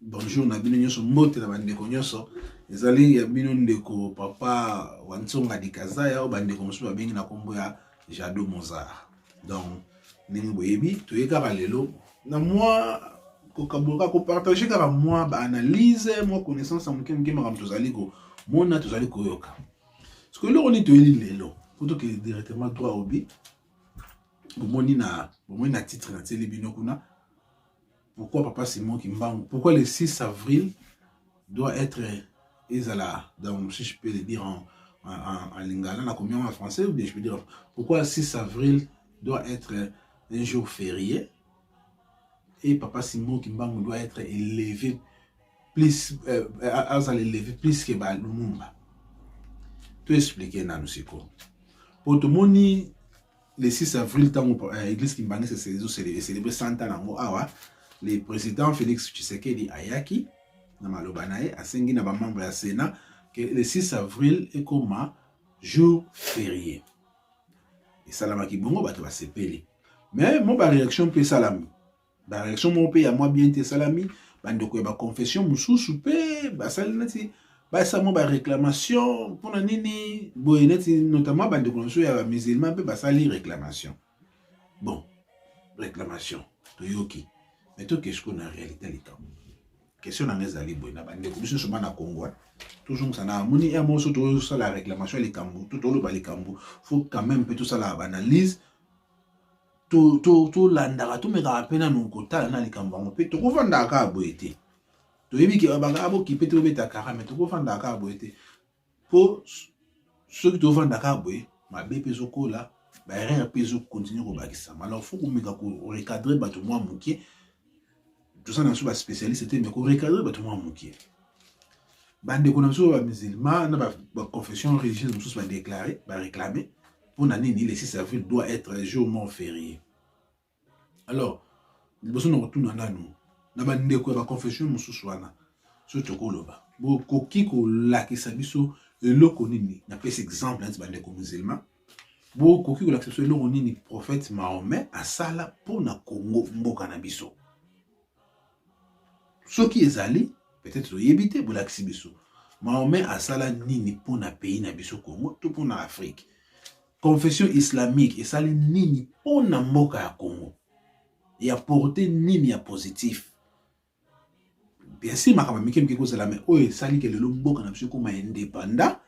bonjour na bino nyonso mbote na bandeko nyonso ezali ya bino ndeko papa wa ntsonga dikazaya oyo bandeko mosusu babengi na nkombo ya jado mozar donc ndenge boyebi toye kaka lelo na mwa kokaboka kopartage kaka mwa baanalyse mwa connaissance ya moke moke makambo tozali komona tozali koyoka siko eloko nini toyeli lelo po tokende directement droit obi bomoni na bomoni na titre na tieli bino kuna Pourquoi papa Simon Kimbangu? Pourquoi le 6 avril doit être ezala donc si je peux le dire en en, en, en lingala na combien en français ou bien je peux dire pourquoi le 6 avril doit être un jour férié et papa Simon Kimbangu doit être élevé plus euh, azala élevé plus que ba Lumumba. To expliquer nanu sikoyo. Po tomoni le 6 avril ntango euh, eglise kimbangisese ezocelebre 100 ans yango awa le président félix tshisekedi ayaki na maloba na ye asengi na bamembre ya sénat ke le 6 avril ekoma jour ferie esalamaki bongo bato basepeli mais mo baréaction mpe esalami bareaction moko mpe ya mwa bien te esalami bandeko ya baconfession mosusu mpe basali neti basala mwa baréclamation mpona nini boye neti notamment bandeko na biso ya bamusulman mpe basali réclamation bon réclamation toyoki mais toke sikoyo na réalité ya likambo question na ngai ezali boye na bandeko biso nyonso bana kongo tozongisa na amoni ya moso tozosala réclamation ya likambo to toloba likambo faut quand même mpe tosala baanalyse tolandaka tomekaka mpe nanu kotala na likambo yango mpe tokofandaka kaka boye te toyebi ke babaka bokipe te bobeta kara me tokofandaka kaka boye te mpo soki tofanda kaka boye mabe mpe ezokola baerreur mpe ezokontinue kobakisama alors fo komeka korecadre bato mwa moke toza na biso ba spécialiste te mais ko recadrer bato mwa moke bandeko na biso ba musulman na ba confession religieuse mosusu ba déclarer ba réclamer mpo na nini le 6 avril doit être jour mort férié alors liboso na kotuna nanu na bandeko ya ba confession mosusu wana soki tokoloba bokoki kolakisa biso eloko nini napesi exemple neti bandeko musulman bokoki kolakisa biso eloko nini prophète Mahomet asala mpo na Congo mboka na biso soki ezali peut-être toyebi te bolakisi biso Mahomet asala nini mpo na pays na biso Congo to mpo na Afrique confession islamique esali nini mpo na mboka ya Congo ya porte nini ya positif bien sûr makambo mike mike kozala mais oyo esali ke lelo mboka na biso ekoma independant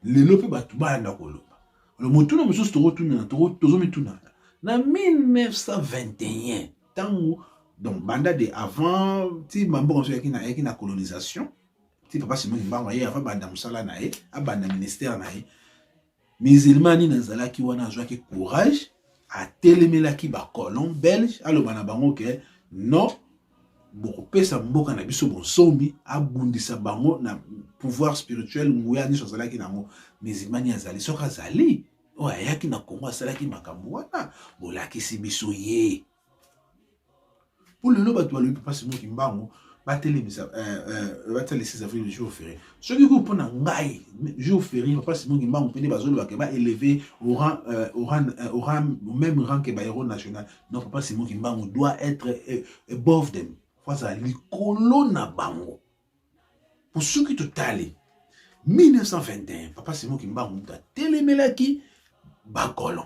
lelo mpe bato bayanda koloba alo motuna mosusu tokotunana tozomitunana na 1921 ntango donc banda de avant ti bamboka mosusu ayaki na colonisation ti papa simoni mbango aye avant banda mosala na ye abanda ministère na ye musulman nini azalaki wana azwaki courage atelemelaki bacolon belge aloba na bango ke non bokopesa mboka na biso bonsomi abundisa bango na pouvoir spirituel nguya nyonso azalaki nango musulmani azali soki azali oyo ayaki na kongo asalaki makambo wana bolakisi biso ye mpo lelo bato balobi papa simo kimbangu batelemisa euh, euh, batala 6 avril le jour férié soki ko mpo na ngai jour férié papa simo kimbangu mpe nde bazolobaka baéleve au même rang que bahéros national donc papa simo kimbangu doit être above them fo azala likolo na bango mpo soki totali 1921 papa Simon Kimbangu moto atelemelaki bakolon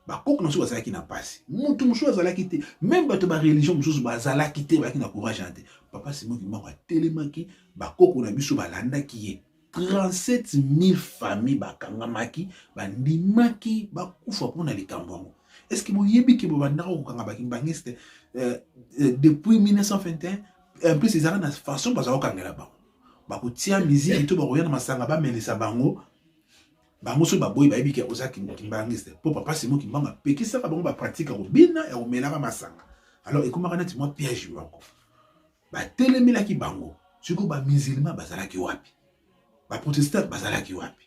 bakoko na soki bazalaki na mpasi moto mosusu azalaki te meme bato ba religion mosusu bazalaki te bayaki na courage na te papa Simon Kimbangu atelemaki bakoko na biso balandaki ye 37000 famille bakangamaki bandimaki bakufa mpo na likambo yango eske boyebi ke bobandaka kokanga bakimbangiste euh, euh, depuis 1921 en plus ezalaka na façon bazala kokangela bango bakotia miziki to bakoya na masanga bamelisa bango bango soki baboyi bayebi ke oza kimbangiste mpo papa simo kimbanga apekisaka bango bapratike ya kobina ya komelaka masanga alors ekomaka neti mwa piège moko batelemelaki bango sikoyo bamizilma bazalaki wapi baprotestant bazalaki wapi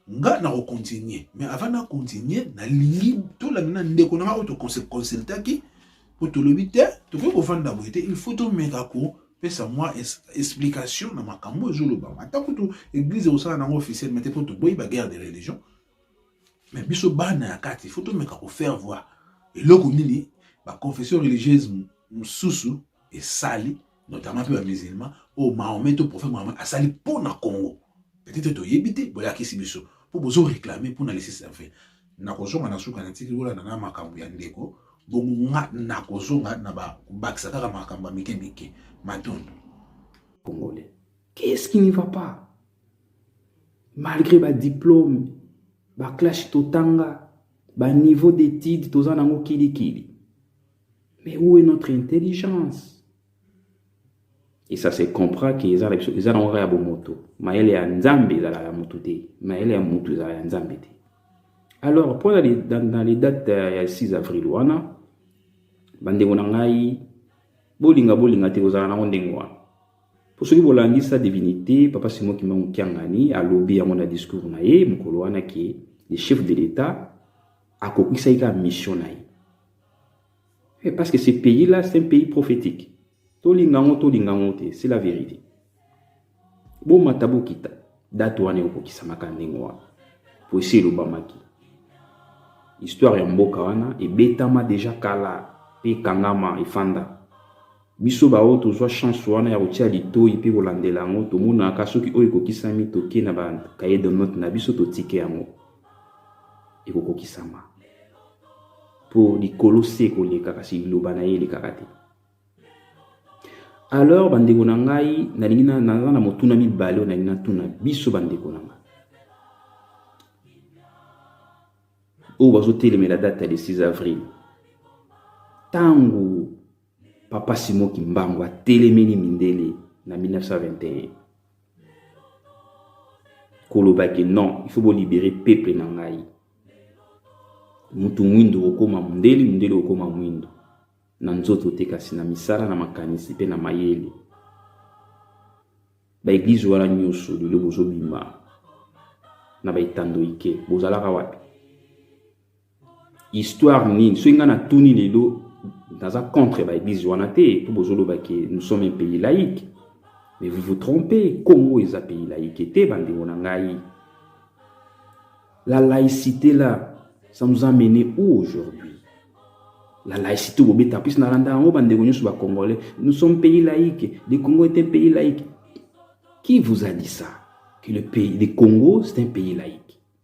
nga na kocontinue mais avant na continue nalingi tolanda na ndeko na nga oyo toconsultaki mpo tolobi te tokoki kofanda boye te il faut tomeka kopesa mwa explication na makambo ezolobama ata kutu eglise ekosala nango officiel mete mpo toboyi baguerre de religion mais biso bana ya kati faut tomeka ko faire voir eloko nini ba confession religieuse mosusu esali notamment mpe bamusulman oyo oh, mahomet to prophète mahomet asali mpo na congo peut-être toyebi te boyakisi biso mpo bozo réclame mpo na lesisi ya fe nakozonga na suka natiki kolanda na makambo ya ndeko bongo nga nakozonga na bakobakisa kaka makambo ya mike mike matondo congolais qu'est-ce qui ne va pas malgré ba diplôme ba clash totanga ba niveau d'étude toza nango kilikili mais où est notre intelligence et ça se comprend que eza na biso eza nango kaka ya bomoto mayele ya nzambe ezalaka ya motu te mayele ya motu ezalaka ya nzambe te alors mpo na dans les dates euh, ya 6 avril wana bandeko na ngai bolinga bolinga te kozala nango ndenge wana mpo soki bolandi sa divinité papa simon kimbangu kiangani alobi yango na discours na ye mokolo wana ke le chef de l'état akokisaki kaka mission na ye eh, parce que ce pays là c'est un pays prophétique tolinga yango tolinga yango te c'est la vérité bomata bokita date wana ekokisamaka ndenge wana mpo esi elobamaki histoire ya mboka wana ebetama deja kala mpe ekangama efanda Biso baoyo tozwa chance wana ya kotia litoyi mpe kolandela yango, tomonaka soki oyo ekokisami toke na ba cahier de note na biso totike yango ekokokisama mpo likolo se ekoleka kasi liloba na ye elekaka te. Alors bandeko na ngai, nalingi naza na motuna mibale oyo nalingi natuna biso bandeko na ngai oyo bazotelemela date ya le 6 avril ntango Papa Simon Kimbangu atelemeli mindele na 1921 koloba ke non il faut bolibere peuple na ngai mutu mwindo okoma mundele mundele okoma mwindo na nzoto te kasi na misala na makanisi mpe na mayele baeglize wana nyonso lelo bozobima na baetando ike bozalaka wapi histoire nini soki ngai natuni lelo naza contre baeglise wana te mpo bozoloba ke nous sommes un pays laïque mais vous vous trompez congo eza pays laïque te bandeko na ngai la laïcité là ça nous a mené où aujourd'hui la laïcité bobeta plus nalanda yango bandeko nyonso bacongolais nous sommes pays laïque le congo est un pays laïque qui vous a dit ça que le, pays, le congo c'est un pays laïque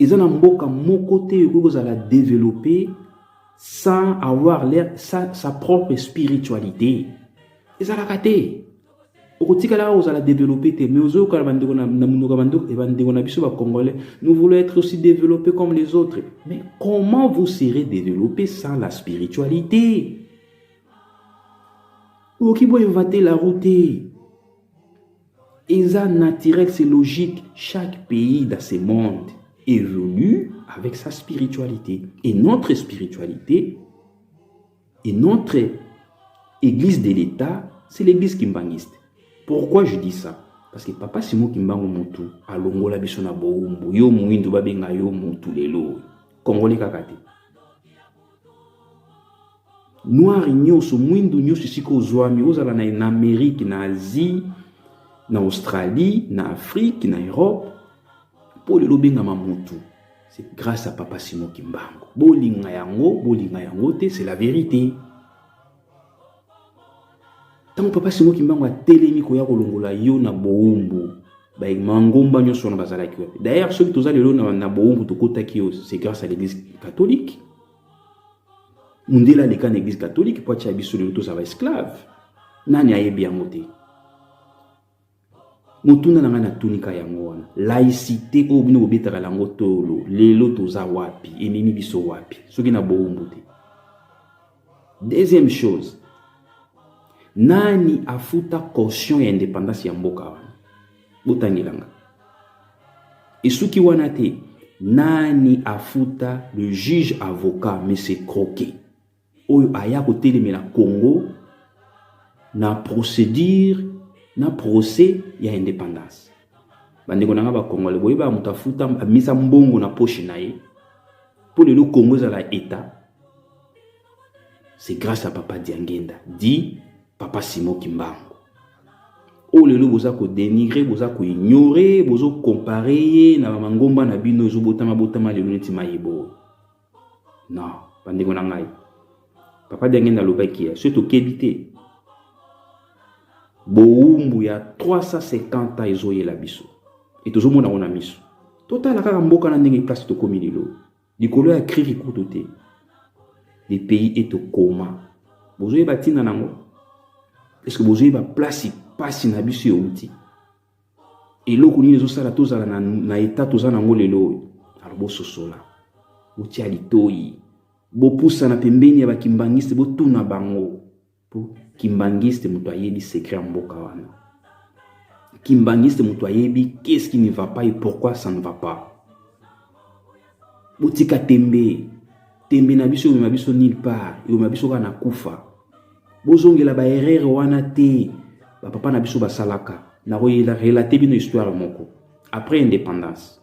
eza na mboka moko te ekoki kozala developpe sans avoir leur, sa, sa propre spiritualité ezalaka te okotikala kozala developpe te mais ozoyoka na bandeko na monoko ya bandeko eh, bandeko na biso bacongolais nous voulons être aussi développé comme les autres mais comment vous serez développé sans la spiritualité okoki boyeva te la route Eza naturel c'est logique chaque pays dans ce monde évolue avec sa spiritualité et notre spiritualité et notre église de l'État c'est l'église kimbanguiste. Pourquoi je dis ça Parce que papa Simon Kimbangu Mutu alongola biso na boumbu yo muindu babenga yo mutu lelo congolais kaka te. noir nyonso mwindu nyonso esika ozwami ozala na, na amerike na asie na australie na afrike na europe mpo lelo obengama motu c'est grâce à papa simo kimbango bolinga yango bolinga yango te c'est la vérité ntango papa simo kimbango atelemi koya kolongola yo na boumbu bamangomba nyonso wana bazalaki wapi d'ailleurs soki toza lelo na, na boumbu tokotaki yo c'est grâce à l'église catholique mundele aleka na eglise catholique mpo atya biso lelo tozala ba esclave nani ayebi yango te motuna na ngai natunika yango wana laïcité oyo bino bobetaka yango tolo lelo toza wapi ememi biso wapi soki na bowumbu te deuxième chose nani afuta caution ya indépendance ya mboka wana botangela nga esuki wana te nani afuta le juge avocat monsieur croquet oyo aya kotelemela congo na procédure na procès ya indépendance bandeko na nga bakongole boyeba moto afuta amisa mbongo na poshe na ye mpo lelo congo ezala etat c'est grâce à papa diangenda dit papa simo kimbangu oyo oh, lelo boza kodenigre boza koignore bozo kompare ye na bamangomba na bino ezobotama botama lelo neti mayebo non bandeko na ngai papa denge nalobaki ya soki tokebi te bowumbu ya 350 ans ezoyela biso e tozomona yango na miso totala kaka mboka na ndenge place tokomi lelo likolo ya kriki kutu te le pays est au coma bozoyeba ntina nango eske bozoyeba place mpasi na biso euti eloko nini ezosala tozala na, na eta toza nango lelo oyo alo bososola botia litoi bopusana pembeni ya bakimbangiste botuna bango Po kimbanguiste moto ayebi secret ya mboka wana. Kimbanguiste moto ayebi qu'est-ce qui ne va pas et pourquoi ça ne va pas. Botika tembe. Tembe na biso omema biso nulle part, omema biso kaka na kufa. Bozongela ba erreur wana te. Ba papa na biso basalaka. Na relate bino histoire moko après indépendance.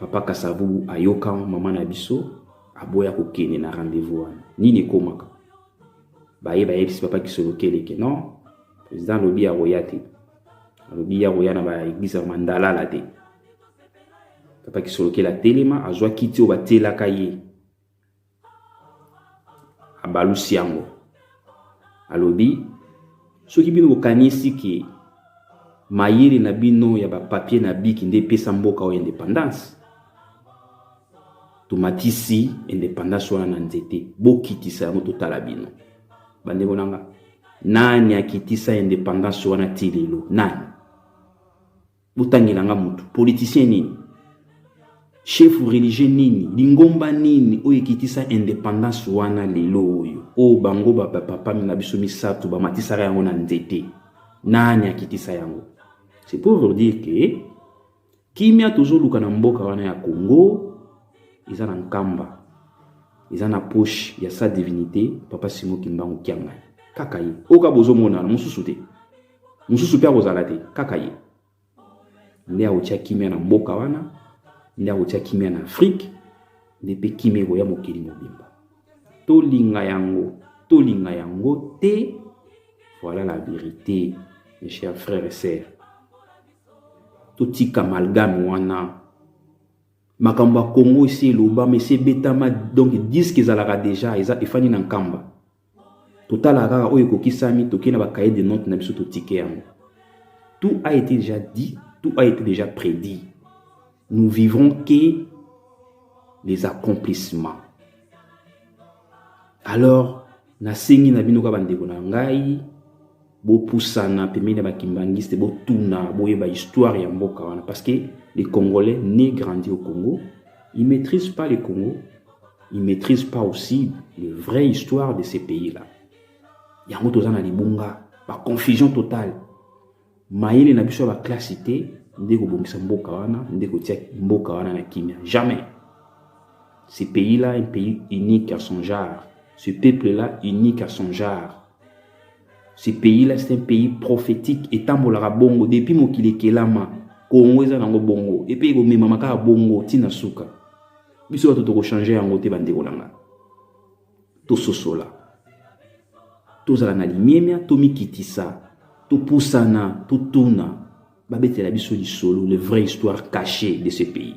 papa kasavubu ayoka mama na biso aboya kokende na rendez-vous wana nini ekomaka baye bayebisi papa kisolo keleke non président alobi akoya te alobi akoya na baeglise ya mandalala te papa kisolokela telema azwa kiti oyo batielaka ye abalusi yango alobi soki bino bokanisi ke mayele na bino ya bapapier na biki nde epesa mboka oyo independance tomatisi independance wana na nzete bokitisa yango totala bino bandeko na nga nani akitisa independance wana ti lelo nani botangela nga motu politicien nini chef religieux nini lingomba nini oyo ekitisa independance wana lelo oyo oyo bango bapapa na biso misato bamatisaka yango na nzete nani akitisa yango c'est pour vous dire que kimia tozoluka na mboka wana ya congo eza na nkamba eza na poche ya sa divinité papa simo kimbangu kiangani kaka ye oyo ka bozomonana mosusu te mosusu mpe akozala te kaka ye nde akotya kimia na mboka wana nde akotya kimia na afrike nde mpe kimia ekoya mokili mobimba tolinga yango tolinga yango te voilà la vérité mes chers frères et sœurs totika malgame wana makambo ya congo esi elobama esi ebetama donc diske ezalaka deja eza efandi na nkamba totalaka kaka oyo ekokisami tokei na bacahier de note na biso totike yango tout a été déjà dit tout a été déjà prédit nous vivrons que les accomplissements alors nasengi na bino kaka bandeko na ngai bopusana pembeni ya bakimbanguiste botuna boyeba histoire ya mboka wana parce que les congolais ne grandi au congo il maîtrise pas le congo il maîtrise pas aussi le vrai histoire de ce pays là yango toza na libunga baconfusion totale mayele na biso ya baklasi te nde kobongisa mboka wana nde kotia mboka wana na kimia jamais ce pays là un pays unique à son genre ce peuple là unique à son genre Ce pays là c'est un pays prophétique etambolaka bongo depuis mokili ekelama Congo eza nango bongo epe ekomemama kaka bongo ntina suka biso bato tokochange yango te bandeko na nga tososola tozala na limemya tomikitisa topusana totuna babetela biso lisolo le vrai histoire cachée de ce pays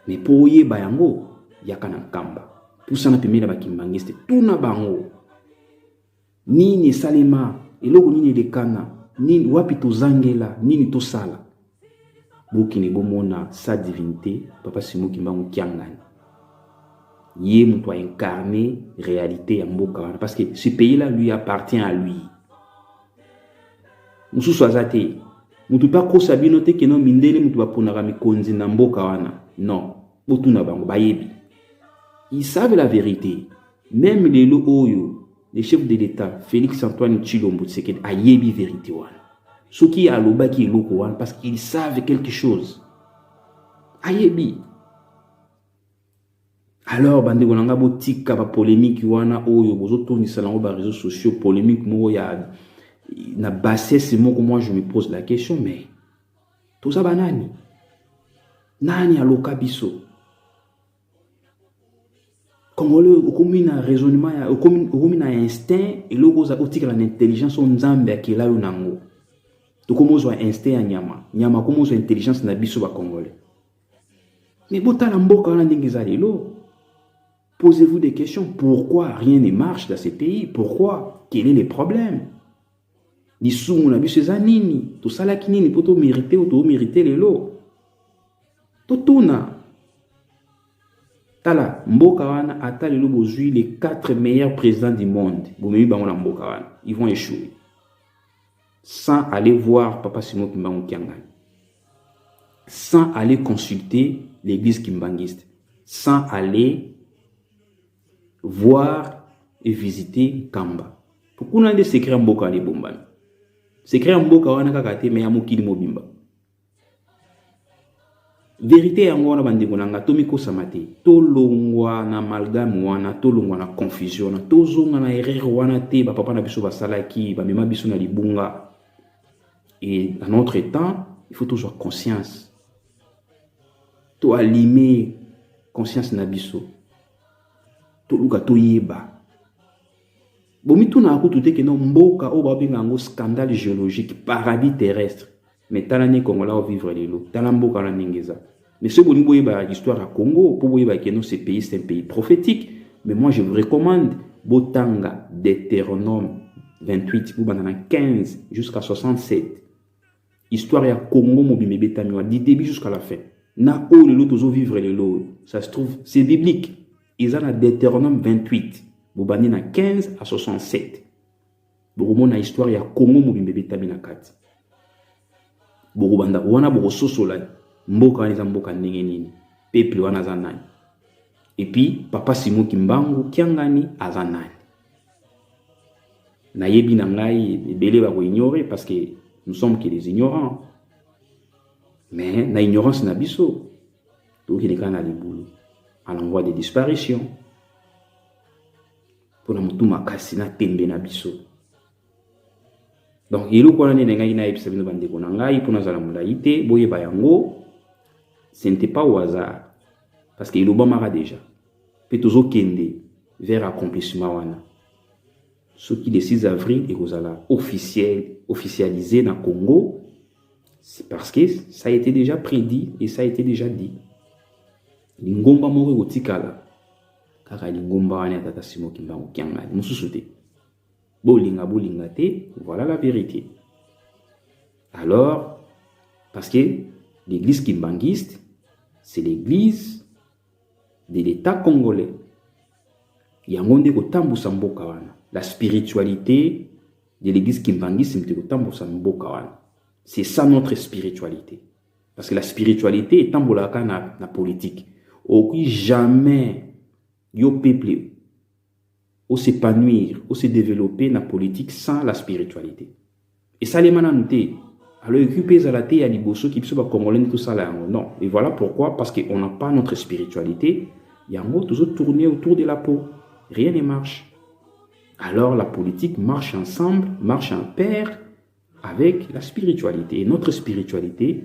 mais mpo oyeba yango yaka na nkamba pusana pembeni na bakimbangiste tuna bango nini esalema eloko nini elekana nini wapi tozangela nini tosala bokende bomona sa divinité papa simo kimbangu kiangani ye moto a incarne réalité ya mboka wana parce que ce pays là lui appartient à lui mosusu aza te moto mpe akosa bino te keno mindele moto baponaka mikonzi na mboka wana non botuna bango bayebi ils savent la vérité meme lelo oyo le chef de l'État Félix Antoine Tshilombo Tshisekedi ayebi verite wana soki alobaki eloko wana parce qu'il savait quelque chose ayebi alors bandeko na ngai botika bapolémike wana oyo bozotondisa nango baréseaux sociaux polémike moko ya na bassesse moko moi je me pose la question mais toza banani nani aloka biso congolais okomi na raisonnement ya okomi, okomi na instinct eloko oza otikala na intelligence oyo nzambe akela yo nango tokomi ozwa instinct ya nyama nyama akomi ozwa intelligence na biso bacongolais me botala mboka wana ndenge eza lelo posez-vous des questions pourquoi rien ne marche dans ce pays pourquoi quel est le problème lisumu na biso eza nini tosalaki nini mpo tomerite oyo toomerite lelo totuna tala mboka wana ata lelo bozwi les 4 meilleurs présidents du monde bomemi bango na mboka wana ils vont échouer sans aller voir papa simon kimbangu kiangani sans aller consulter l'église kimbanguiste sans aller voir et visiter Kamba. Kuna nde secret ya mboka wana ebombami. Secret ya mboka wana kaka te mais ya mokili mobimba. Verite yango wana bandeko na nga tomikosama te. Tolongwa na amalgame wana, tolongwa na confusion wana, tozonga na erreur wana te ba papa na biso basalaki, bamema biso na libunga. Et à notre temps, il faut tozwa conscience to alime conscience na biso toluka toyeba bomitunaka kutu te keno mboka oyo babenga yango scandale géologique paradis terrestre mais tala nde kongola ovivre lelo tala mboka wana ndenge eza mais soki bolingi boyeba histoire ya congo mpo boyeba keno ce pays c'est un pays prophétique mais moi je vous recommande botanga deutéronome 28 bobanda na 15 jusqu'à 67 histoire ya congo mobimba ebetami wana du début jusqu'à la fin na oyo lelo tozovivre lelo oyo ça se trouve c'est biblique eza na deutéronome 28 bobandi na 15 à 67 bokomona histoire ya congo mobimba ebetami na kati bokobanda wana bokososola mboka wana eza mboka ndenge nini peuple wana aza nani epuis papa simo kimbangu kiangani aza nani nayebi na ngai ebele bakoignore parce que nous sommes que des ignorants mais na ignorance na biso tokende kaka na libulu à l'envoi de disparition mpo na motu makasi na tembe na biso donc eloko wana nde nengaki nayebisa bino bandeko na ngai mpo nazala molai te boyeba yango ce n'était pas au hasard parce que elobamaka déjà mpe tozokende vers accomplissement wana soki le 6 avril ekozala officiel officialisé na Congo c'est parce que ça a été déjà prédit et ça a été déjà dit lingomba moko ekotikala kaka lingomba wana ya tata Simon Kimbangu Kiangani mosusu te bolinga bolinga te voilà la vérité alors parce que l'église kimbanguiste c'est l'église de l'État congolais. Yango nde kotambusa mboka wana. La spiritualité de l'église kimbangisme te kotambusa mboka wana. C'est ça notre spiritualité. Parce que la spiritualité etambolaka na, na politique. Okoki jamais yo peuple o s'epanouir o se developper na politique sans la spiritualité esalema nanu te alors ekoki mpe ezala te ya liboso ki biso bacongolais nde tosala yango non et voilà pourquoi parce que on n'a pas notre spiritualité yango tozo tourner autour de la peau rien ne marche alors la politique marche ensemble marche en paire Avec la spiritualité. Et notre spiritualité,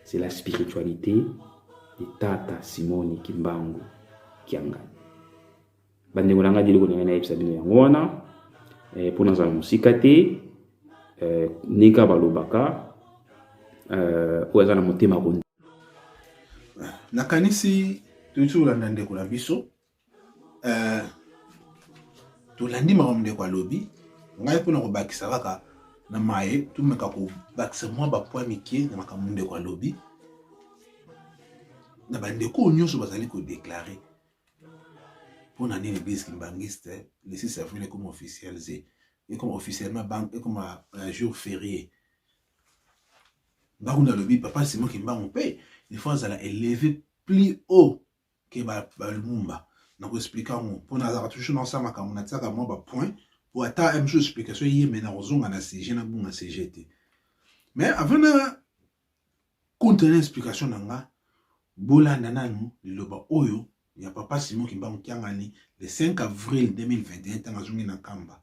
c'est la spiritualité de Tata Simoni Kimbangu Kiangani. bandeko na ngai biloko ndenge nayebisa bino yango wana eh, mpo nazala mosika te eh, ndenge kaka balobaka eh, oyo aza na motema ko nakanisi toyisi kolanda ndeko na biso Euh, tolandi makambo ndeko alobi ngai mpo na kobakisa kaka na maye tomeka kobakisa mwa bapoi mike na makambo ndeko alobi na bandeko oyo nyonso bazali kodeklare mpo na nini eglise kimbangiste le 6 avril ekoma officialise ekoma officiellement banque ekoma un euh, jour férié ntango nalobi papa simon kimbangu mpe il faut azala éleve plus haut ke ba ba lumumba na ko expliquer yango mpo nazalaka toujours na osala makambo na tiaka mwa ba point mpo ata un jour explication ye mais na kozonga na sujet na bunga sujet te mais avant na contre na explication na nga bolanda nanu liloba oyo ya papa Simon Kimbangu Kiangani le 5 avril 2021 ntango azongi na Kamba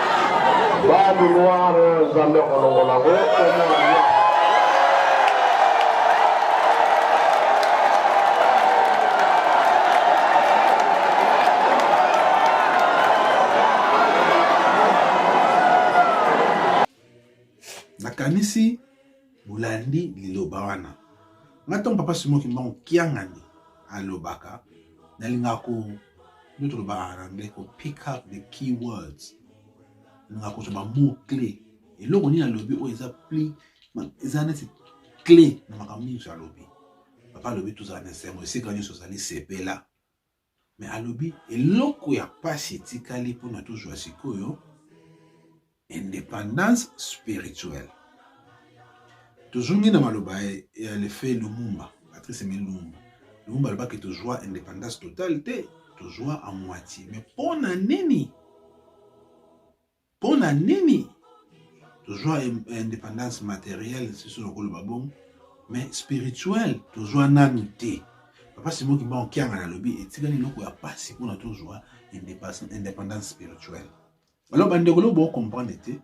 Badu noir Nzambe akolongola ngo nakanisi bolandi liloba wana ngai ntango papa simoki mbango kiangani alobaka nalingaka ko nde tolobaka na anglais ko pick up the key words nalingaka kozwa bamot cle eloko nini alobi oyo eza pli eza neti cle na makambo nyonso alobi papa alobi tozala na esengo esika nyonso ozali sepela me alobi eloko ya mpasi etikali mpona tozwa sikoyo independance spirituelle tozongi na maloba ya lefe lumumba patrice emile lumumba lumumba alobaki tozwa independance totale te tozwa a moitié mais mpo na nini mpo na nini tozwa independance materielle siso nakoloba bongo mais spirituelle tozwa nanu te papa simo kimbango kianga nalobi etikali eloko ya mpasi mpona tozwa independance spirituelle Alors bandeko lobo bo comprendre te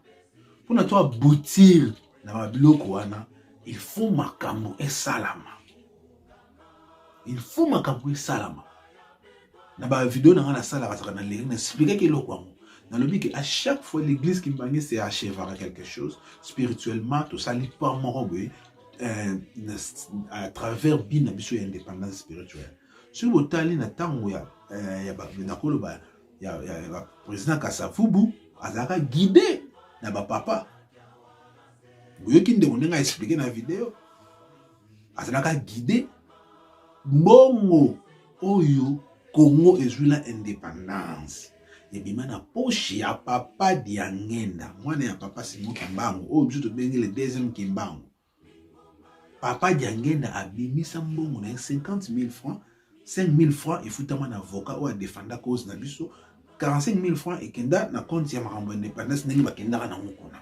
mpona to aboutir na babiloko wana il faut makambo esalama il faut makambo esalama na bavideo na ngai nasalaka saka na leri na explikaki eloko yango nalobi ke à chaque fois l'église kimbange se achevaka quelque chose spirituellement tosali pa moko boye euh, à travers bi na biso ya indépendance spirituelle soki botali na ntango ya euh, nakoloba ya, ya, ya président kasavubu azalaka guide na bapapa oyoki ndeko ndenge aexplike na video azalaka guide mbongo oyo congo ezwi na indépendance ebima na poche ya papa diangenda mwana ya papa simo kimbangu oyo biso tobengi le deuxième kimbangu Papa Diangenda abimisa mbongo na ye 50 000 francs 5 000 francs efutama na avocat oyo adefanda cause na biso 45 000 francs ekenda na compte ya makambo ya independance ndenge bakendaka na ngo kuna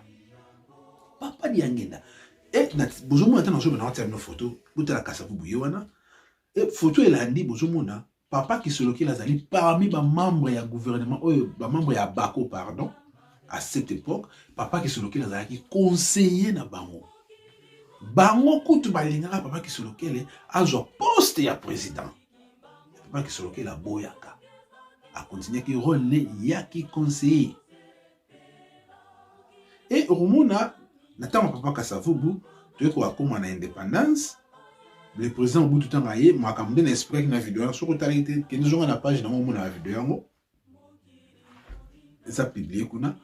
papa Diangenda e bozomona ata nazobana watia bino foto botala kasavubu ye wana e foto elandi bozomona Papa Kisolokila azali parmi ba membres ya gouvernement oyo ba membres ya Bako pardon à cette époque Papa Kisolokila azalaki conseiller na bango bango kutu balingaka Papa Kisolokele azwa poste ya président Papa Kisolokele aboyaka akontinuaki role ne ya ki conseiller e okomona na ntango ya papa kasavubu toyei kokakoma na indépendance le président obutu ntango aye makambo nde na expliquaki na video yango soki otalaki te kende zonga na page nango omona na video yango eza publie kuna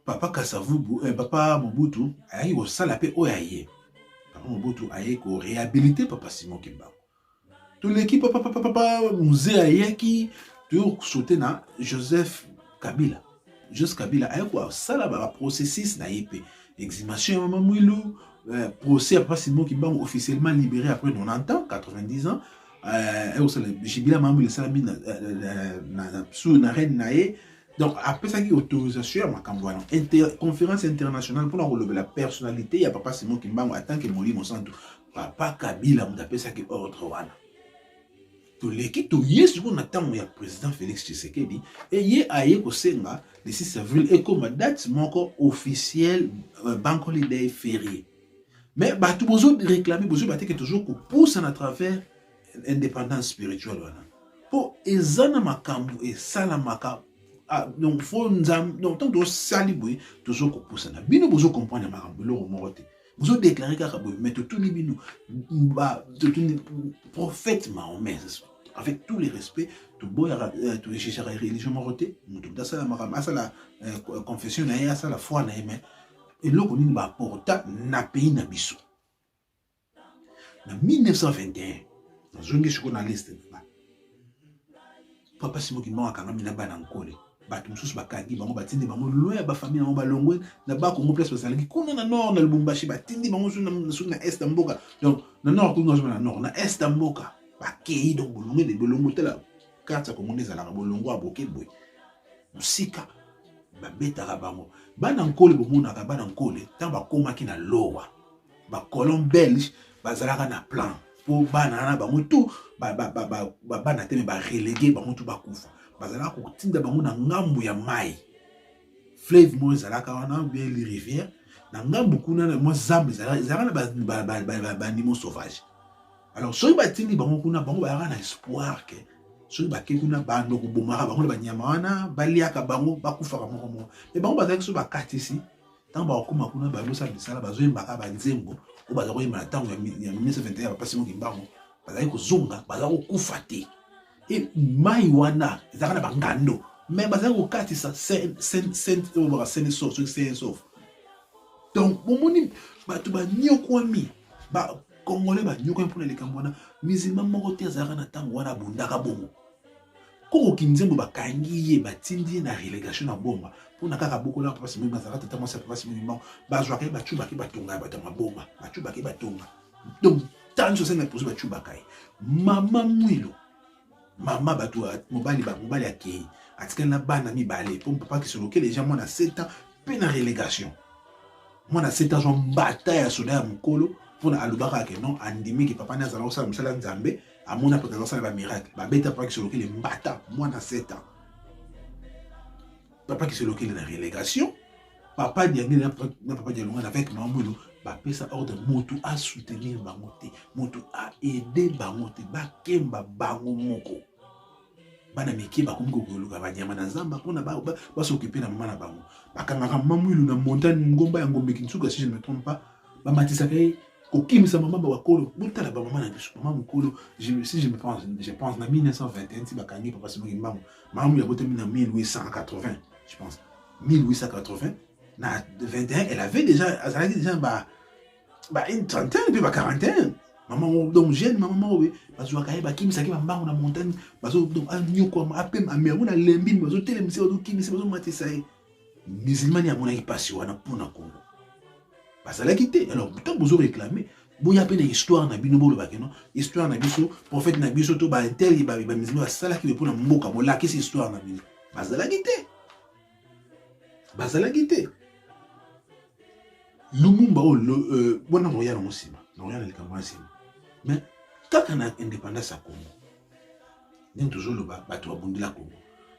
papa kasavubu eh, papa mobutu ayaki kosala mpe oyo aye papa mobutu ayei korehabilite papa simon kimbangu toleki papapapapa muzee ayaki toyo kosote na joseph kabila joseph kabila aye kosala baprocessus na ye mpe exhumation ya mama mwilu euh, procès ya pasi moki bango officiellement libéré après 90 ans 90 ans aye kosala jibila mama mwilu esalami na reine na ye donc apesaki autorisation ya makambo wana conférence internationale mpona kolobela personnalité ya papa simon kimbangu atanke molimo santu papa kabila moto apesaki ordre wana toleki toye sikoyo na ntango ya président félix tshisekedi eye aye kosenga le 6 avril ekoma date moko officielle euh, bank holiday ferie mais bato bozo réclame bozo bateke toujours kopusa na travers indépendance spirituelle wana mpo eza na makambo esalamaka ah, donc fo nzambe donc ntango tosali boye tozo kopusana bino bozo comprendre makambo eloko moko te bozo déclare kaka boye mais totuni bino totuni prophète mahomet avec tous les respects toboyaka euh, togegaka religion moko te moto moto asala makambo asala euh, confession na ye asala foi na ye mais eloko nini baaporta na pays na biso na 1921 nazongi sikoyo na liste papa simo kimbangu akangami na bana nkole bato mosusu bakangi bango batindi bango loin ya bafamille yango balongwe na bakongo place bazalaki kuna na nord na lubumbashi batindi bango soki na est ya mboka donc na nord kuna nazoma na nord na est ya mboka bakei donc bolongo ede bolongo tala karte ya kongo nde ezalaka bolongo ya boke boye mosika babetaka bango bana nkole bomonaka bana nkole ntango bakomaki na lowa ba colon belge bazalaka na plan mpo bana wana bango tu babana te me barelege bango tu bakufa bazalaka kotinda bango na ngambo ya mai flave moko ezalaka wana bien rivière na ngambo kuna na mwa zamba ezalaka na banimo sauvage alors soki batindi bango kuna bango bayaka na espoir ke soki bake kuna bando kobomaka bango na banyama wana baliaka bango bakufaka moko moko me bango bazalaki soki bakatisi ntango bakokoma kuna bazosala misala bazoyembaka banzembo oyo baza koyemba na ntango ya 1921 ya bapasi moki mbango bazali kozonga baza kokufa te e mai wana ezalaka na bangando me bazali kokatisa oyoboka seneso soki senesof donc bomoni bato banyokwami bakongole banyokwami mpona likambo wana mizima moko te azalaka na ntango wana abundaka bongo Koko Kinzembo bakangi ye batindi ye na relegation na Boma mpona kaka bokola Papa Simoni Manzaka tata mwasi ya Papa Simoni Mao bazwaka ye bacubaka ye batonga ya bato ya maboma bacubaka ye batonga donc ntango sosenga liposo bacubaka ye mama mwilo mama bato mobali mobali akei atikali na bana mibale mpo papa kisolokele eja mwana 7 ans mpe na relegation mwana 7 ans mbata ya soda ya mokolo mpona alobaka ke non andimi ke papa nde azala kosala mosala ya nzambe amona pota azosala ba miracle babeta papa kisolokele mbata mwana 7 ans papa kisolokele na relégation papa diangeli na papa dialongana avec mamwino bapesa ordre motu asoutenir bango te motu aide bango te bakemba bango moko bana mike bakomi kokoluka banyama na zamba mpona basokipe na mama na bango bakangaka mama mwilu na montagne ngomba ya ngombe kinsuka si je ne me trompe pas bamatisaka ye kokimisa mama bakolo botala bamama na biso mama mokolo si je me pense je pense na 1921 ti bakangi papa simoki mbango mama mwilu abotami na 1880 je pense 1880 na 21 elle avait déjà azalaki déjà ba ba une trentaine mpe ba quarantaine mama moko donc jeune mama moko boye bazwaka ye bakimisaki bambango na montagne bazo donc anyokwama apema ame yango na lembi bazotelemisa bazokimisa bazomatisa ye musulmani amonaki mpasi wana mpo na kongo bazalaki te alors ntango bozo réclame boya mpe na histoire na bino bolobake no histoire na biso prophète na biso to baintel bamusulman basalaki boye mpo na mboka bolakisi histoire na bino bazalaki te bazalaki te lumumba oyo euh, wana nakoya nango nsima nakoya na likambo ya nsima mais kaka na indépendance ya congo ndenge tozoloba bato babundela congo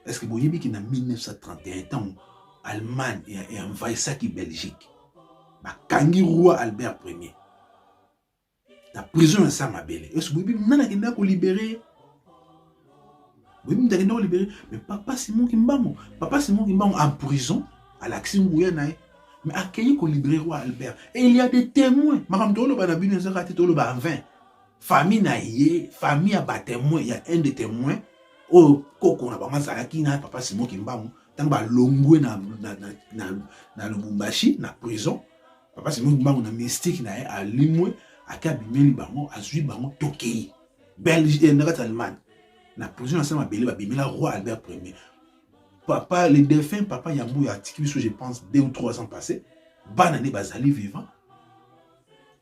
est ce que boyebi ki na 1931 ntango allemagne envahissaki belgique bakangi roi albert premier na prison ya sa mabele yesu boyebi nani akendaka kolibere ye boyebi moto akendaka kolibere mais papa simon kimbangu papa simon kimbangu en prison alakisi nguya na ye mais akeyi kolibere roi albert et il y a des témoins makambo toloba na bino ezaka te toloba en vain famille na ye famille ya batemoin ya un de témoin oyo koko na bango azalaki na papa simon kimbangu ntango balongwe na, na, na, na, na lubumbashi na prison Papa Simon Kimbangu na mystique na ye alimwe ake abimeli bango azwi bango tokei Belgique eh, na kati ya Allemagne na prison asala mabele babimela roi Albert Ier papa le défunt papa Yambuya atiki biso je pense deux ou trois ans passé bana nde bazali vivant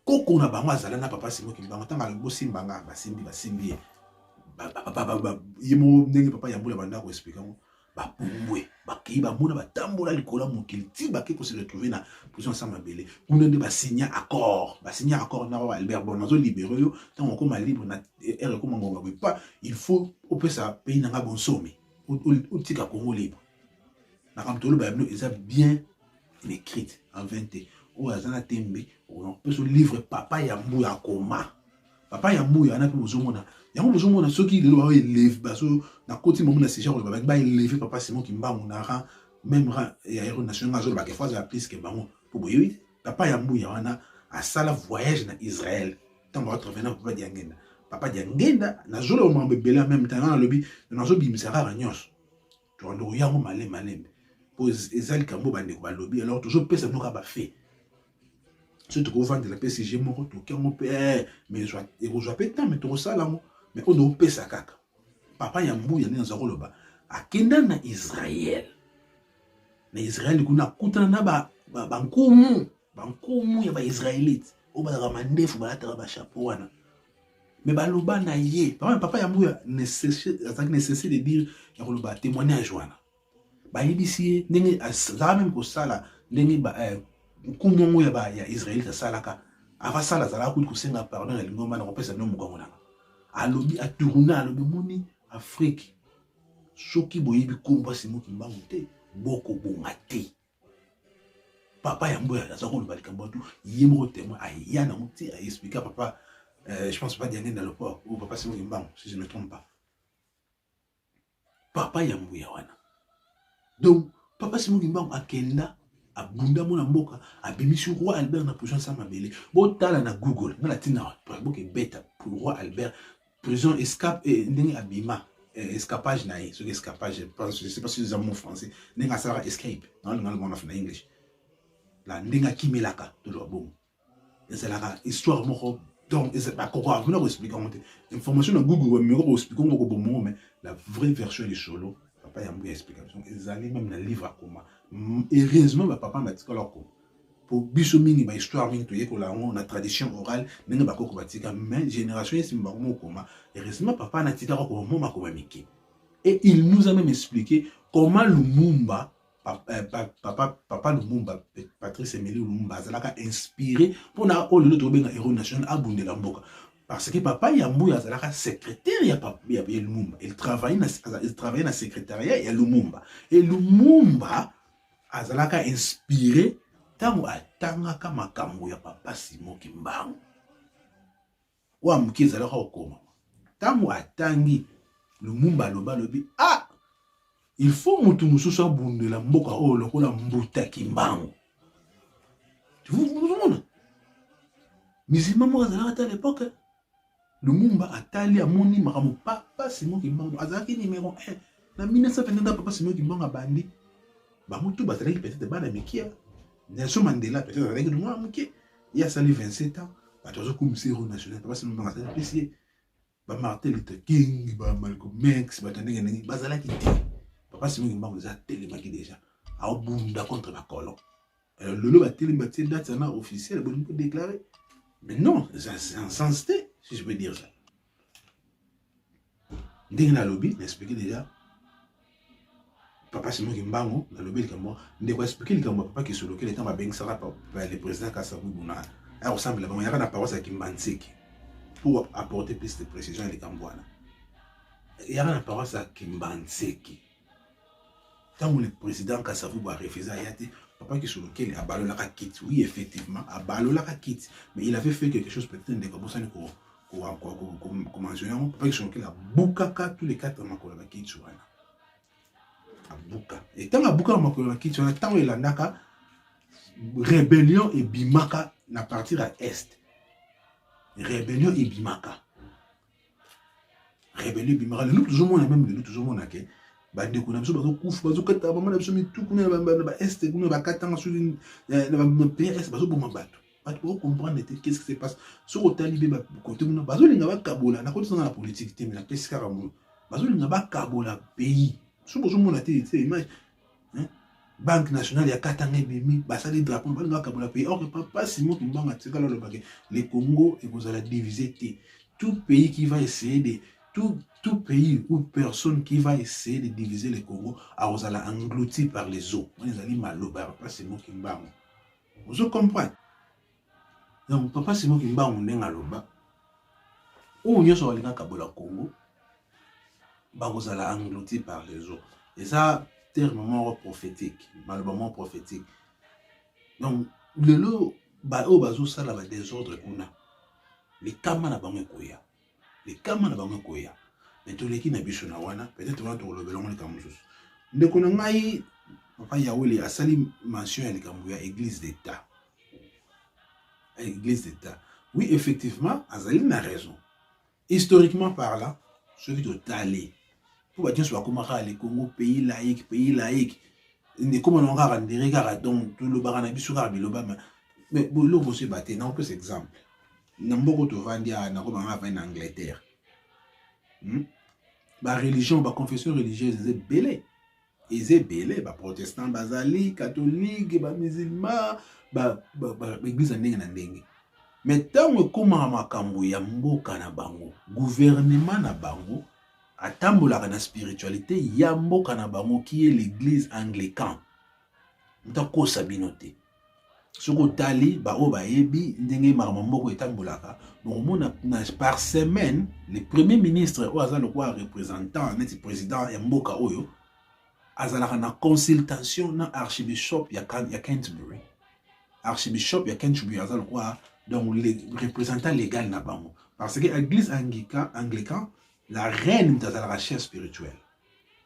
koko na bango azala na papa Simon Kimbangu ntango alobi bosimba nga basimbi basimbi ye ye moko ndenge papa Yambuya banda koexplike yango bapumbwe bakei bamona batambola likolo ya mokili ti bakei kose retrouve na prison ya samabele kuna nde basigna accord basigna accord na oyo albert bon nazo libere yo ntango okoma libre na eh, ere ekoma ngonga boye pa il faut opesa pays na ngai bonsomi otika congo libre makambo toloba ya bino eza bien écrite en 20 te oyo aza na tembe opesa livre papa ya mbu ya koma papa ya mboyo wana mpe bozomona yango bozomona soki lelo bao eleve bazo nakoti bango na sija koloba bangi baeleve papa simon kimbangu na ran meme ran ya hero national azoloba ke fois ya plus ke bango mpo boyebi te papa ya mbuya wana asala voyage na israel ntango atrevena papa diangenda papa diangenda nazoloba makambo ebele ya meme temps wana alobi nazobimisaka kaka nyonso tokondo koya yango malembe malembe mpo eza likambo bandeko balobi alors tozopesa bino kaka bafe soki tokovandela mpe sujet moko toki yango mpe eh, mais ekozwa mpe temps mais tokosala yango mais oyo ndokopesa kaka papa ya mbuya nde naza koloba akenda na israel na israel kuna akutana na bankumu ba, ba bankumu ya baisraelite oyo bazalaka mandefu balataka bashapo wana me baloba na ye papa papa ya mbuya azalaki necessaire de dire ya koloba témoignage wana bayebisi ye ndenge azalaka meme kosala ndenge eh, nkumu yango ya israelite asalaka avasala azalaka kutu kosenga pardon ya lingomba na kopesa bino mokongo nanga alobi atourna alobi moni afrike soki boyebi nkombo asimbo kimbangu te bokobonga te papa ya mboya aza koloba likambo tu ye moko témoin aya nango ti aexplika papa euh, je pense papa diange na loport ou papa simo kimbango si je ne trompe pas papa ya mboya wana donc papa simo kimbango akenda abunda mwana mboka abimisi roi albert na position sa mabele botala na google nga na ntina boke beta roi albert prison escape eh, ndenge abima eh, escapage na ye soki escapage je pense je sais pas si eza mot français ndenge asalaka escape naolinga lomona na english la ndenge akimelaka toloba bongo ezalaka histoire moko donc bakoko avuna koexplike yango te information na google bameko koexplike yango kobomo yango mais la vraie version lisolo papa ya mbuya explication ezali meme na livre akoma heureusement bapapa batikala akoma po biso mingi ba histoire mingi toyekola yango na tradition orale ndenge bakoko batika mais génération ya nsima bakoma kokoma heureusement papa natika kokoma mwa makoma mike et il nous a même expliqué comment lumumba papa, eh, papa, papa lumumba patrice emeli lumumba azalaka inspiré mpona oyo lelo tokobenga héros national abundela mboka parce que papa ya mbuya azalaka secrétaire ya, papa, ya, ya lumumba il travaille na, il travaille na secrétariat ya lumumba et lumumba azalaka inspire ntango atangaka makambo ya papa simo kimbangu oyo amoki ezalaka kokoma ntango atangi lumumba aloba alobi a ah, ilfaut motu mosusu abundela mboka oyo lokola mbuta kimbangu ozomona mizima moko azalaka ata lepoke Lumumba atali amoni makambo papa Simon Kimbangu azalaki numero 1 na 1922 papa Simon Kimbangu abandi bango tu bazalaki peut-être bana mikia Nelson Mandela peut-être azalaki na mwana moke ye asali 27 ans bato bazokumisa hero national papa Simon Kimbangu azali pesi ye ba Martin Luther King ba Malcolm X bato ndenge ndenge bazalaki te papa Simon Kimbangu eza telemaki déjà aobunda contre bacolon Euh, lelo batelemi batie date yana officielle bolingi kodeklare mais non eza en sens te si je peux dire ça ndenge nalobi na explike déjà papa simoki mbango nalobi likambo ndeko explike likambo papa kisolokele ntango babengisaka le président kasabubu na aya kosambela bango yaka na paroisse ya kimbanseki pour apporter plus de précision ya likambo wana yaka na paroisse ya kimbanseki ntango le président kasavubu arefusa aya te papa kisolokele abalolaka kiti oui effectivement abalolaka kiti mais il avait fait quelque chose peut-être ndeko abosani komanzona yango papa kisolokele abukaka tous les quatre makolo ya bakiti wana abuka e ntango abukaka makolo ya bakiti wana ntango elandaka rébellion ebimaka na partir ya est rébellion ebimaka rebelio ebimaka lelo tozomona meme lelo tozomona ke bandeko na biso bazokufa bazokata mama na biso mitu kuna na baeste kuna bakatanga soki eh, na baprs bazoboma bato bato bakokomprendre te qu'est ce qui se passe soki otali mpe bakote kuna bazolinga bakabola nakotisanga na politike te me napesi kaka mono bazolinga bakabola pays soki ozomona te te image hein? banque nationale ya katanga ebimi basali drapeau mobali nga akabola pays or papa simon kimbangu atikala olobake le congo ekozala divise te tout pays qui va essayer de tout, tout pays ou personne qui va essayer de diviser le congo akozala englouti par les eaux wana ezali maloba ya papa simon kimbangu ozo comprendre Donc papa Simon Kimbangu ndenge aloba oyo nyonso balinga kabola Congo bakozala englouti par les autres. Eza terme moko prophétique, maloba moko prophétique. Donc lelo baoyo bazosala ba desordre kuna likama na bango ekoya likama na bango ekoya me toleki na biso na wana peut-être wana tokolobela yango likambo mosusu ndeko na ngai papa yawele asali mention ya likambo ya église d'état église d'état oui effectivement azali na raison historiquement parlant soki totali mpo bato nyonso bakomaka le congo pays laïque pays laïque ekoma nango kaka ndere kaka donc tolobaka na biso kaka biloba mais eloko mosusu eba te nakopesa exemple na mboko tovandi awa nakoma nga avandi na angleterre hmm? bareligion baconfession religieuse eza ebele eza ebele baprotestant bazali katholike bamusilma baeglise ya ndenge na ndenge me ntango ekomaka makambo ya mboka na bango guvernema na bango atambolaka na spiritualité ya mboka na bango qui est l'église anglican moto akosa bino te soki otali baoyo bayebi ndenge makambo moko etambolaka bokomona par semaine le premier ministre oyo aza lokola représentant neti président ya mboka oyo azalaka na consultation na archibishop ya, ya canterbury archibishop ya canterbury aza lokola donc le représentant légal na bango parce que église anglican la reine moto azalaka chef spirituel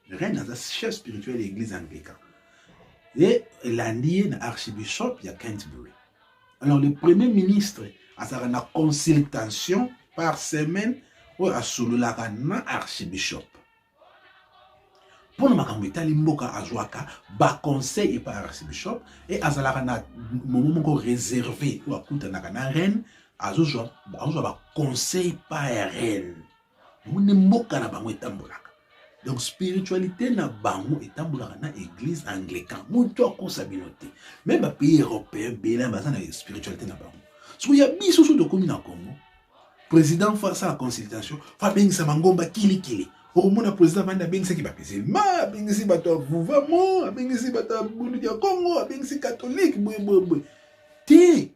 Reine aza chef spirituel ya eglise anglican ye elandi ye na archibishop ya Canterbury. Alors le premier ministre azalaka na consultation par semaine oyo asololaka na archibishop mpo na makambo etali mboka azwaka baconseil epa archibishop e azalaka na momo moko reserve oyo akutanaka na reine azozwa baconseil pa ya reine omoni mboka na bango etambolaka donc spiritualité na bango etambolaka na église anglican moto akosa bino te meme bapays européen bela baza na spiritualité na bango soki ya biso soki tokomi na congo président fo asala consultation fo abengisa mangomba kilikili okomona président vandi abengisaki bapisilma abengisi bato ya vuvamo abengisi bato ya bunduki ya congo abengisi katholike boyeboyeboye te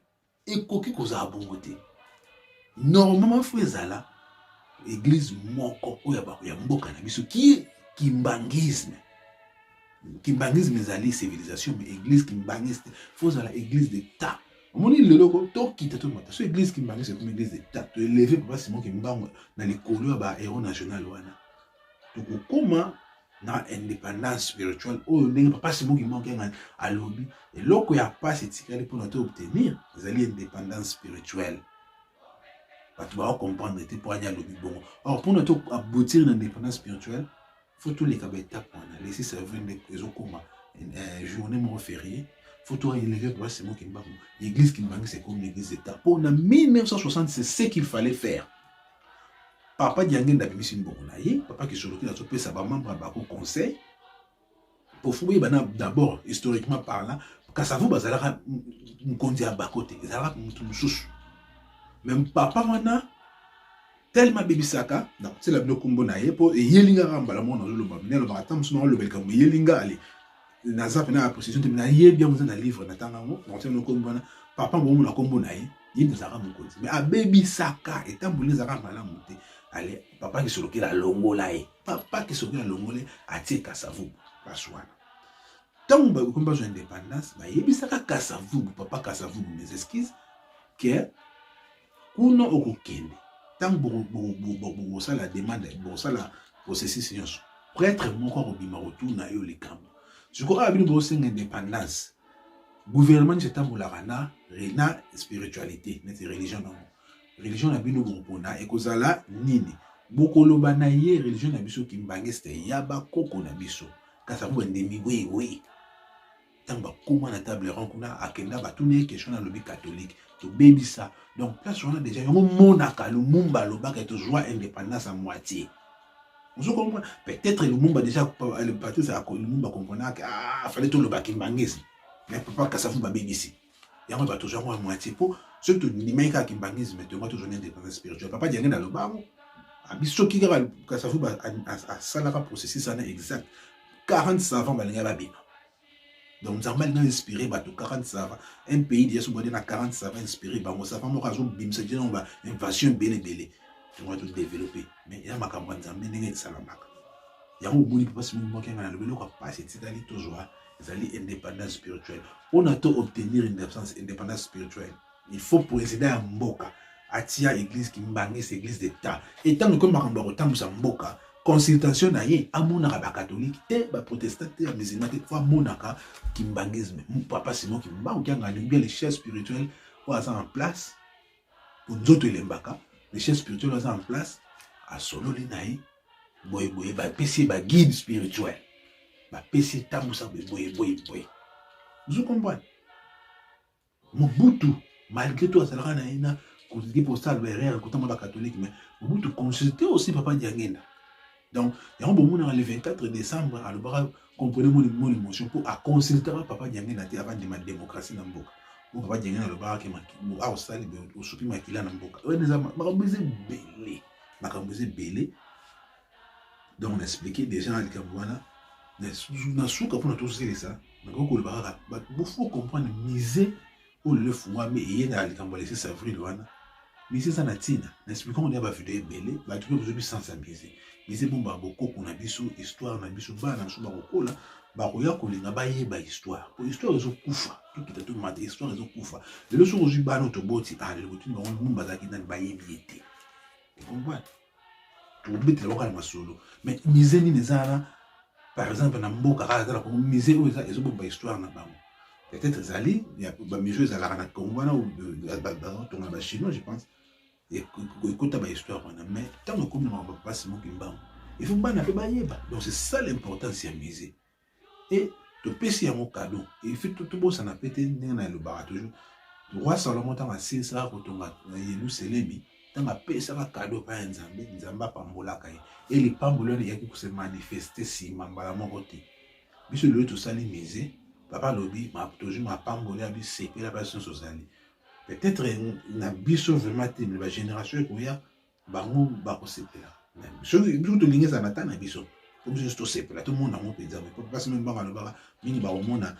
Ekoki kozala bongo te. Normalement faut ezala église moko oyo ya bato ya mboka na biso qui est kimbangisme. Kimbangisme ezali civilisation mais église kimbangisme faut ezala église d'État. omoni lelo ko tokita tomata so église kimbangisme ekomi église d'État to eleve papa Simon Kimbangu na likolo ya ba héros national wana tokokoma na independance spirituelle oyo ndenge papa simoki mokengani alobi eloko ya mpasi etikali mpona to obtenir ezali independance spirituelle bato bako comprendre te mpo ani alobi bongo or mpona to aboutir na independance spirituelle fo toleka baetape wana lesi servir nde ezokoma eh, journée moko ferie fo toeleve papa simoki mbango l'église kimbangisa ekomi l'église d'etat mpo na 1960 c'est ce qu'il fallait faire papa diangenda abimisi mbongo na ye papa kisoloki nazopesa bamembre ya bako conseil kofuye bana d'abord historiquement parlant kasavu bazalaka mokonzi ya bako te ezalaka motu mosusu meme papa wana telema abebisaka na kotiela bino nkombo na ye mpo eyelingaka mbala moko nazoloba mine alobaka ata mosu na olobelika moyelingale naza pena ya possession te nayebi yango eza na livre natanga yango nakotiana nkombo wana papa bongo na nkombo na ye ye nde azalaka mokonzi me abebisaka etamboli ezalaka malamu te ale papa kisolokela alongola ye papa kisolokela alongola ye atie kasavubu place wana ntango bakomi bazwa indépendance bayebisaka kasavubu papa kasavubu mes excuses ke Kuna okokende ntango bokosala demande bokosala processus nyonso pretre moko akobima kotuna yo likambo sikoyo awa bino bosenga indépendance gouvernement nyonso etambolaka na na spiritualité neti religion na yango religion na bino bokopona ekozala nini bokoloba na ye religion na biso kimbangiste ya bakoko na biso kasi yango bandemi wewe ntango bakoma na table rond kuna akenda batuni ye question nalobi catholique tobebisa donc place wana deja yango monaka lumumba alobaka tozwa indépendance ya moitié ozo comprendre peut-être lumumba deja patrice lumumba comprenaka ah, fallait toloba kimbangisi mais papa kasavu babebisi yango bato ozwa yango ya moitié mpo soki tondimaki kaka kimbangisme te yango tozwa na indépendance spirituelle papa diange na lobango abi soki kaka kasafu asalaka processus wana exact 40 savant balingai babima donc nzambe alinga inspiré bato 40 savant un pays deja sobode na 40 savant inspiré bango savant moko azobimisa je nango ba invasion ebele ebele yango atodeveloppe mais ya makambo ya nzambe ndenge esalamaka yango omoni mpasi mingi mokenga na lobi eloko ya mpasi etikali tozwa ezali indépendance spirituelle mpona to obtenir indépendance spirituelle il faut président ya mboka atia église kimbangisi église d'état e ntango ekomi makambo ya kotambwisa mboka consultation na ye amonaka bakatolike te baprotestant te ya musulman te fo amonaka kimbangisme papa simon kimbangu kiangani bien les chefs spirituels oyo aza en place po nzoto elembaka le chef spirituel aza en place asololi na ye boyeboye bapesi ye baguide spirituel bapesi etambusa boyeboyeboye ozo comprendre mobutu malgré tout azalaka na ye na kosala baerreur kotanga bakatholike mais mobutu consulte aussi papa diangenda donc yango bomonaka le 24 décembre alobaka comprenez mon mon émotion mpo aconsultaka papa diange na te avandima démocratie na mboka mpo papa diange na alobaka ke aosali osuki makila na mboka wana eza makambo eza ebele makambo eza ebele donc na explike déjà na likambo wana na suka mpona tosilisa nakoki koloba kaka bofo comprendre mise oyo lelo efungwami eye na likambo ya le 6 avril wana mise eza na ntina na explika ngo na bavideo ebele bato mpe bozobi sensibilize mise ebombaka bokoko na biso histoire na biso bana na biso bakokola bakoya kolinga bayeba histoire po histoire ezokufa tokita tomata histoire ezokufa lelo soki ozwi bana oyo toboti ah lelo botuni bango nini bazalaki nani bayebi ye te comprendre tokobetela yango kaka na masolo mais musée nini eza wana par exemple na mboka kaka eza na kongo musée oyo eza ezobomba histoire na bango peut-être ezali bamusée ezalaka na kongo wana bazotonga na bachinois je pense ekota bahistoire wana mais ntango ekomi na makambo mpasi mokimbango il faut bana mpe bayeba donc c'est ça l'importance ya musée e topesi yango kado efi tobosana mpe te ndenge na elobaka toujours roi salomo ntango asilisaka kotonga na yelusalemi ntango apesaka kado epai ya nzambe nzambe apambolaka ye e lipamboli wana eyaki kose manifeste nsima mbala moko te biso lelo tosali mise papa alobi tozwi mapamboli ya bisepela basi nyonso ozali peut-être na biso vraiment te me bagénération ekoya bango bakosepela soki biso tolingi ezala ata na biso po biso nyonso tosepela tomona yango mpenza boye po mpasi meme bango alobaka mingi bakomona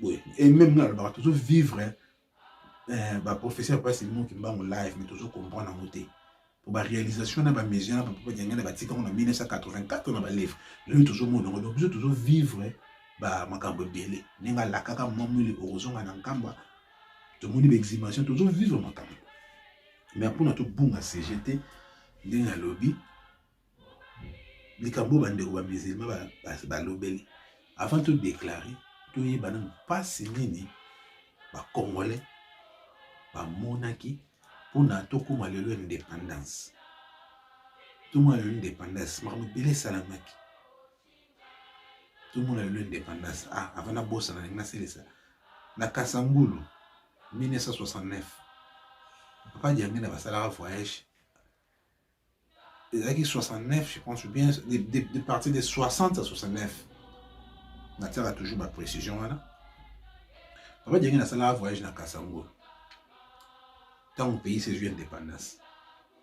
boye e meme nga alobaka tozo vivre eh, baprofesseur mpasi moki mbango live mais tozo comprendre yango te po baréalisation na bamesure na bapapa diangana batikango na 1984 na balivre lelo tozomona yango donc biso tozo vivre bamakambo ebele ndenge alakaka mamwili okozonga na nkamba tomoni baexhumation tozo vivre makambo mais mpona tobunga sujet te ndenge alobi likambo oyo bandeko bamisilma balobeli avant todeklare toyeba nanu mpasi nini bacongolais bamonaki mpona tokóma lelo indépendance tomona lelo indépendance makambo ebele esalamaki tomona lelo indépendance ah, avant nabosana ndenge nasilisa na kasangulu 1969 papa diangenda basalaka voyage ezalaki 69 je pense bien de, de, de partir de 60 à 69 natiaka toujours baprécision wana papa diangenda asalaka voyage na kasango ntango pays ezwi indépendance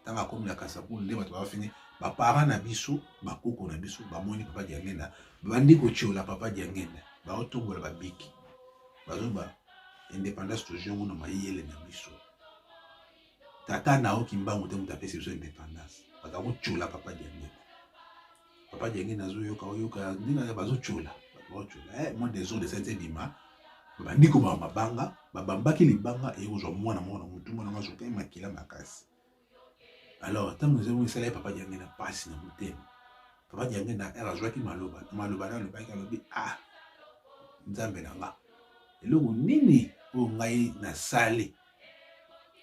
ntango akomi na kasakulu nde bato bafini baparent na biso bakoko na biso bamoni papa diangenda babandi kotyola papa diangenda baotombola babiki bazoba indépendance tozwi yango na mayele na biso tata na yo kimbangu te moto apesi biso indépendance baza kotyola papa diangenda papa jenge nazoyoka oyoka ndenge ya bazocola bazocola eh, mwa desordre esati ebima babandi komaka mabanga babambaki libanga eye kozwa mwana moko na motu mwana ngo azokai makila makasi alors ntango ezango esala ye papa jenge na mpasi na motema papa jenge na r azwaki maloba na maloba na alobaki alobi ah nzambe na nga eloko nini oyo ngai nasali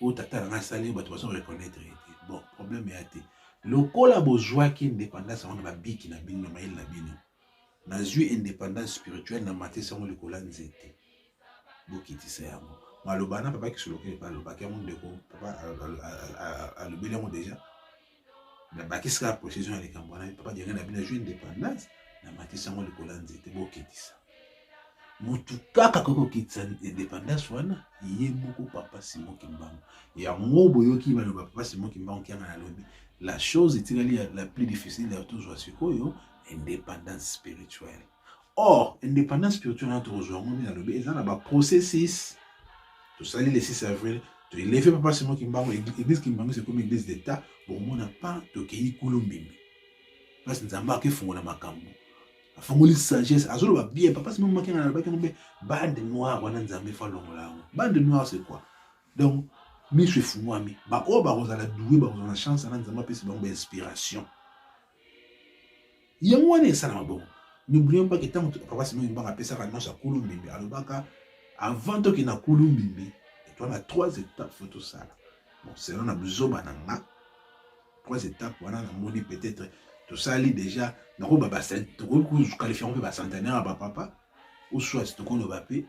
oyo tata nanga asali bato bazo reconnaitre ye te bon problème ya te lokola bozwaki indépendance yango na babiki na bino na mayele na bino nazwi indépendance spirituelle na matisi yango likolo ya nzete bokitisa yango maloba na papa kisolokele mpe alobaki yango ndeko papa alobeli yango déjà na bakisi kaka precision ya likambo wana papa diange na bino ezwi indépendance na matisi yango likolo ya nzete bokitisa motu kaka koki kokitisa indépendance wana ye moko papa simon kimbangu yango boyoki baloba papa simon kimbangu kianga nalobi la chose etikali la plus difficile ya tozwa sikoyo indépendance spirituelle or indépendance spirituelle wana tokozwa yango nini alobi eza na baprocessus tosali le 6 avril toeleve papa simo kimbango église kimbango ekomi église d'état bokomona pa tokei kulu mbimbi place nzambe akefungola makambo afungoli sagesse azoloba bien papa simo maki na alobaki yango mpe bande noire wana nzambe fo alongola yango bande noire c'est quoi donc miso efungwami baoyo bakozala doue bakozala na chance wana nzambe apesi bango bainspiration yango wana esalama bongo n'oublions pas que ntango papa simo mbanga apesaka nyonso ya kulu mbimbi alobaka avant toke na kulu mbimbi etwa na trois étapes fo tosala bon selon na buzoba na nga trois étapes wana namoni peut-être tosali déjà nakoba tokoki koqualifie yango mpe bacentenaire ya bapapa ou soit tokoloba mpe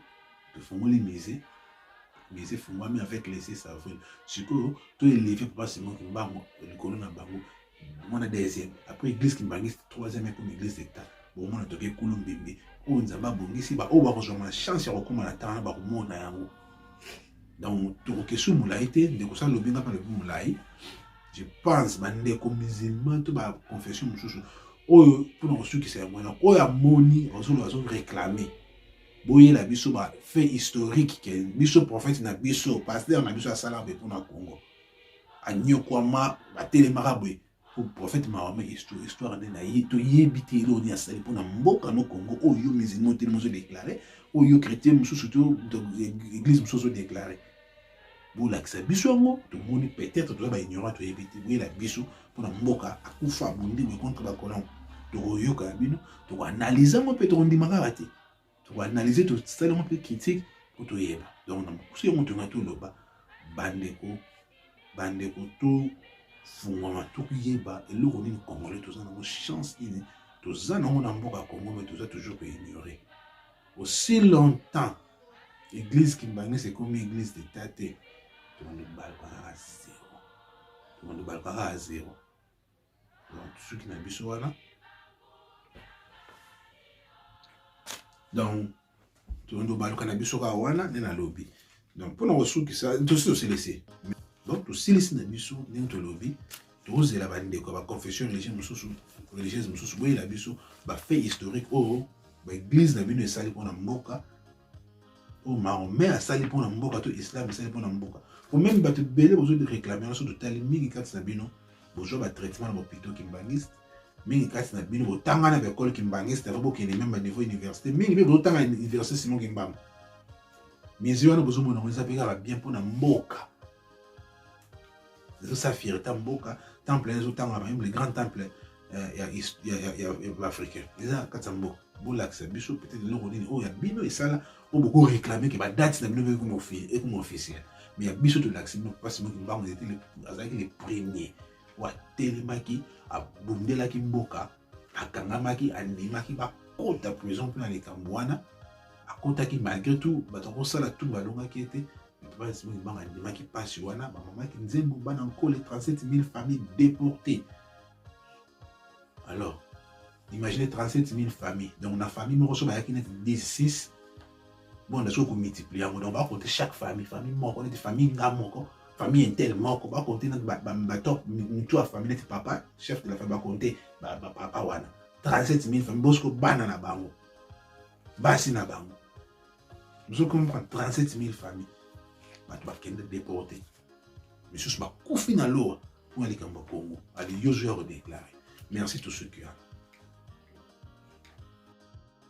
tofungoli musée musée efungwami avec les 6 avril sikoyo toeleve papa simo kimbango likolo na bango omona deuxième après église kimbanguiste troisième ekomi église d'état bomona toke kulu mbimbi oyo oh, nzambe abongisi baoyo oh, bakozwama na chance ya kokóma na ntango na bakomona yango donc tokokesu molai te ndeko sa lobi nga mpe lobi molai je pense bandeko musulman to baconfession mosusu oyo mpona kosukisa yango wana oyo amoni azolo azo réclame boyela biso bafait historique ke biso prophète na biso paster na biso asalaka mpe mpona congo anyokwama batelemaka boye po prophète mahome histoire nde na ye toyebi te eloko nini asali mpo na mboka no congo oyo yo musulman otelemi ozodeklare oyo yo chrétien mosusu to église mosusu ozodeklare bolakisa biso yango tomoni peut-être toza baignorant toyebi te boyela biso mpo na mboka akufa bondimi contre bacolon tokoyoka ya bino tokoanalyse yango mpe tokondima kaka te to analyser to sala un peu critique pour to yeba donc na mokuse yango tonga to loba bandeko bandeko to fungwama to yeba eloko nini congolais toza nango chance nini toza nango na mboka congo mais toza toujours ko ignorer aussi longtemps église kimbange c'est comme église d'état te tomando balukaka zero tomando balukaka zero donc suki na biso wana donc tondo baluka na biso kaka wana nde nalobi donc mpona kosukisa tosi tosilisi donc tosilisi na biso ndenge tolobi tozela bandeko ya baconfession religieux mosusu religieuse mosusu boyela biso bafait historique oyo baeglize na bino esali mpona mboka oyo mahomet asali mpo na mboka to islam esali mpo na mboka po meme bato ebele bozo réclame nyonso totali mingi kati na bino bozwa batraitement na bopito kimbangiste mingi kati na bino botanga na baekole kimbangiste ava bokende meme baniveau université mingi mpe bozotanga université simon kimbanga mizi wana bozomona yango eza mpe kaka bien mpo na mboka ezosa fierté ya mboka temple ezotanga mayembe le grand temple eh, ya baafricain eza kati ya mboka bolakisa biso peut-être eloko nini oyo ya bino esala mpo bokoreklame ke badate na bino ekoma officiel mais ya biso tolakisi bino mpasi moki mbango azalaki le premier oyo atelemaki abundelaki mboka akangamaki andimaki bakota prison mpona likambo wana akotaki malgré tout bato akosala tout balongaki ye te banga andimaki mpasi wana bamamaki nzembo bana nkole 37 000 famille déporté alors imaginez 37 000 famille donc na famille moko so bayaki neti 16 bonda soki komultiplie yango donc bakonte chaque famille famille moko neti famille nga moko famille intel moko bakonte neti batop mitu ya famille neti papa chef de la famille bakonte papa wana 37 000 famille bosiko bana na bango basi na bango biso kompa 37 000 famille bato bakende deporte misusu bakufi na lowa mpo na likambo ya congo ali yozo ya kodeklare merci tout ce qui a